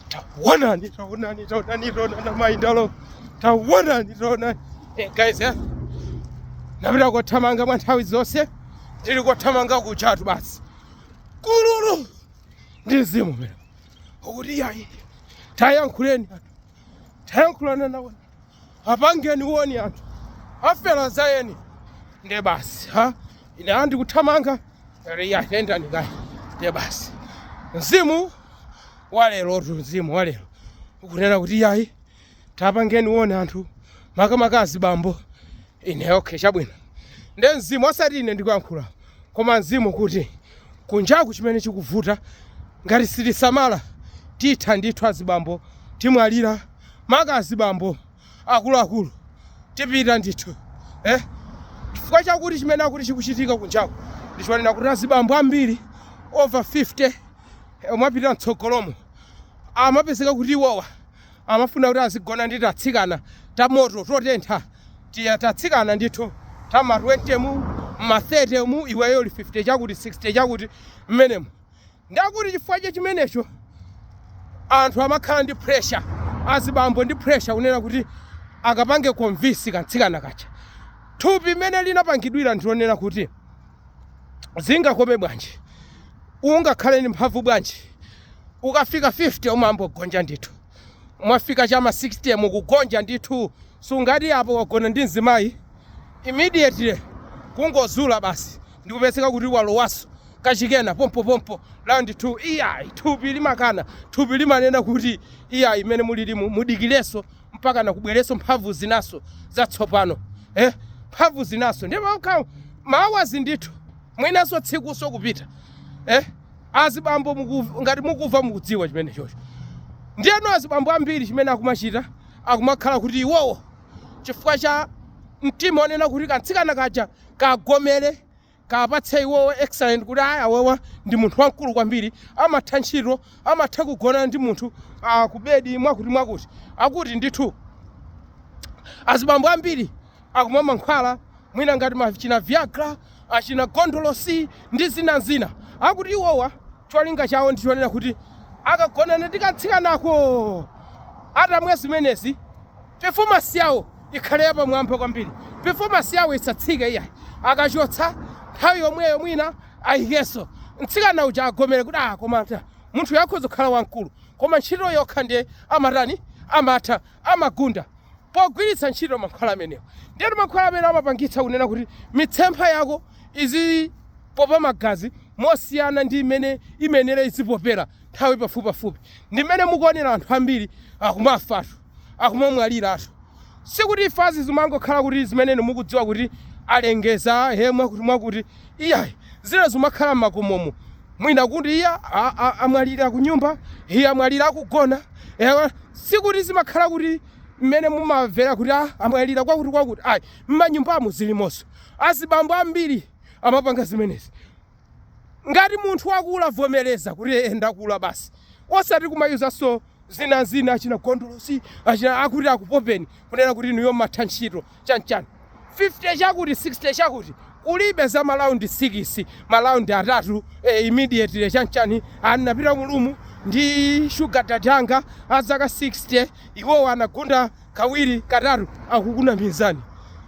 Taonani, taonani, taonani, taonani mayendedwalo. Taonani, taonani. Hey guys, eh? Napita kothamanga mwa nthawi zonse. Ndili kothamanga kuchatu basi. Kululu. Ndi mzimu mene ukuti yayi. Tayankhuleni anthu. Tayankhulana nawo. apangeni warn anthu afera za eni nde basi ha ine ndili kuthamanga riya tendani kaye nde basi mzimu walerotu mzimu walero ukunena kuti yayi tapangeni warn anthu makamaka azibambo ine okay chabwino nde mzimu osati ine ndikuyankhula koma mzimu kuti kunjaku chimene chikuvuta ngati sitisamala titha ndithu azibambo timwalira maka azibambo akuluakulu tipita ndithu eh? chifukwa chakuti chimene akuti chikuchitika kunjaku ndichonena kuti azibambo ambiri over 50 eh, omwe apita mtsogolomo amapezeka kuti iwowa amafuna kuti azigona ndi tatsikana tamoto totentha tiya tatsikana ndithu tama 20 mu ma 30 mu iweyo uli 50 chakuti 60 chakuti mmenemo Ndiye kuti chifukwa cha chimenecho anthu amakhala ndi pressure, azibambo ndi pressure kunena kuti akapange convince kamtsikana kaja. Thupi mmene linapangidwira ndi lonena kuti zingakome bwanji, ungakhale ndi mphamvu bwanji, ukafika 50 umayamba kugonja ndithu. mwafika chama 60 mukugonja ndithu sungati apo wagona ndi mzimayi immediately kungozula basi ndikupezeka kuti walowaso kachikena pompo pompo round 2 iyayi thupi limakana thupi limanena kuti iyayi mmene mulilimu mudikileso mpaka nakubwereso mphamvu zinaso zatsopano eh mphamvu zinaso ndi ma hours ndithu mwinaso tsikuso kupita eh Azibambo mukuv- ngati mukuva mukudziwa chimenechocho. Ndiyeno azibambo ambiri chimene akumachita akumakhala kuti iwowo chifukwa cha mtima onena kuti kamtsikana kaja kagomere kapatse iwowo excellent kuti ayi awewa ndi munthu wamkulu kwambiri amatha ntchito amatha kugona ndi munthu ah, kubedi mwakuti mwakuti akuti ndithu azibambo ambiri akumwa mankhwala mwina ngati achina viagra achina gondolosi ndi zina zina akuti iwowa cholinga chawo ndi chonena kuti akagonana ndi katsikanako atamwa zimenezi performance yawo ikhale yapamwamba kwambiri performance yawo isatsike iyayi akachotsa nthawi yomweyo mwina ayikenso mtsikana uja agomere kuti ah koma ta- munthuyu akhoza kukhala wamkulu koma ntchito yokha ndiye amatani amatha amagunda pogwiritsa ntchito mankhwala amenewa. Ndiyetu mankhwala amene amapangitsa kunena kuti mitsempha yako izipopa magazi mosiyana ndi mmene imayenera izipopera nthawi pafupipafupi. Ndi mmene mukuonera anthu ambiri akumafatu, akumamwaliratu. Sikuti imfazi zimangokhala kuti zimene inu mukudziwa kuti alengeza he mwakuti mwakuti Iyayi, zina zimakhala mmakomomu mwina kuti iya a a amwalira kunyumba, iya amwalira akugona, eya sikuti zimakhala kuti mmene mumamvera kuti a amwalira kwakuti kwakuti ayi, mmanyumbamu zilimonso, azibambo ambiri amapanga zimenezi. Ngati munthu wakula vomereza kuti ee ndakula basi, osati kumayuzanso zina zina achina gondolosi achina akuti akupopeni kunena kuti inuyo mmatha ntchito. chanchani 50 chakuti 60 chakuti kulibe za ma round 6 ma round atatu eh, immediately chanchani anapita mulumu ndi sugar daddy wanga azaka 60 iwowo anagunda kawiri katatu akukunamizani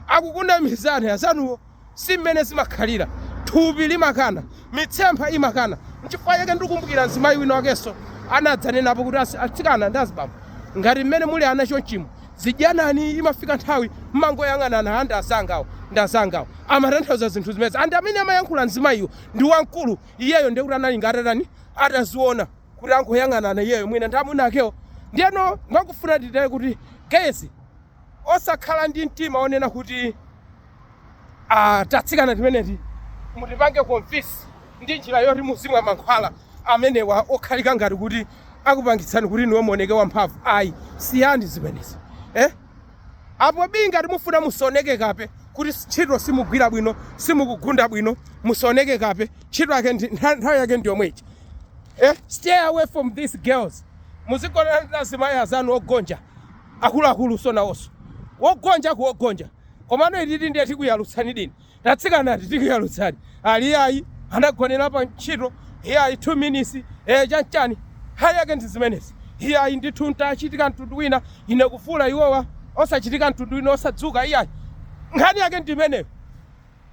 akukunamizani azanuwo Si mmene zimakhalira. Thupi limakana. Mitsempha imakana. N'chifukwa chake ndikumbukira mzimayi wina wakenso anadzanenapo kuti, As, atsikana ndi azibambo, ngati mmene muli ana chonchimu, zidyanani, imafika nthawi mmangoyang'anana, a ndi azangawa, ndi azangawa. Amatanthauza zinthu zimenezi. And amene amayankhula mzimayiyo ndi wamkulu, iyeyo ndiye kuti anali nga atatani, ataziona kuti angoyang'anana iyeyo mwina ndi amuna akewo. Ndiyeno ndikufuna ndinene kuti, guys, osakhala ndi mtima wonena kuti. ah, tatsikana timeneti mutipange convince ndi njira yoti muzimwa mankhwala amenewa okhala ngati kuti akupangitsani kuti inuyo muoneke wamphamvu ayi siyani zimenezi eh? apo bi ngati mufuna musaoneke kape kuti ntchito simugwira bwino simukugunda bwino musaoneke kape ntchito yake ndi- ntha- nthawi yake ndi yomweyi eh? stay away from these girls muzigonana ndi azimayi azanu ogonja akuluakulu si nawonso wogonja kuwogonja Komano ititu ndiye tikuyalutsani ndithu. Tatsikanati tikuyalutsani. Ali iyayi anagonera pa ntchito, iyayi two minutes, ee chanchani, nkhani yake ndi zimenezi. Iyayi ndithu n'tachitika mtundu wina, ine kuvula iwowa osachitika mtundu wina osadzuka iyayi. Nkhani yake ndi imeneyo.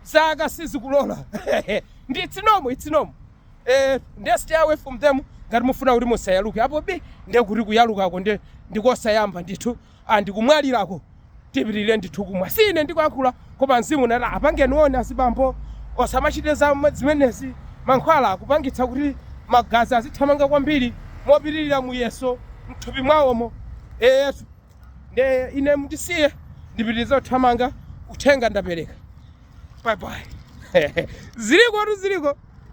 Zaka sizikulola. And it's normal, it's normal. Eh, ndiye stay away from them ngati mufuna kuti musayaluke. Apo bi ndiye kuti kuyalukako ndiye ndikosayamba ndithu. and kumwalirako tipitirire ndithu kumwa si ine ndikuyankhula koma mzimu unati apangeni warn azibambo asamachite za zimenezi mankhwala akupangitsa kuti magazi azithamanga kwambiri mopitirira muyeso mthupi mwawomo eyetu nde ine mundisiye ndipitirize kuthamanga uthenga ndapereka bye bye zilikotu ziliko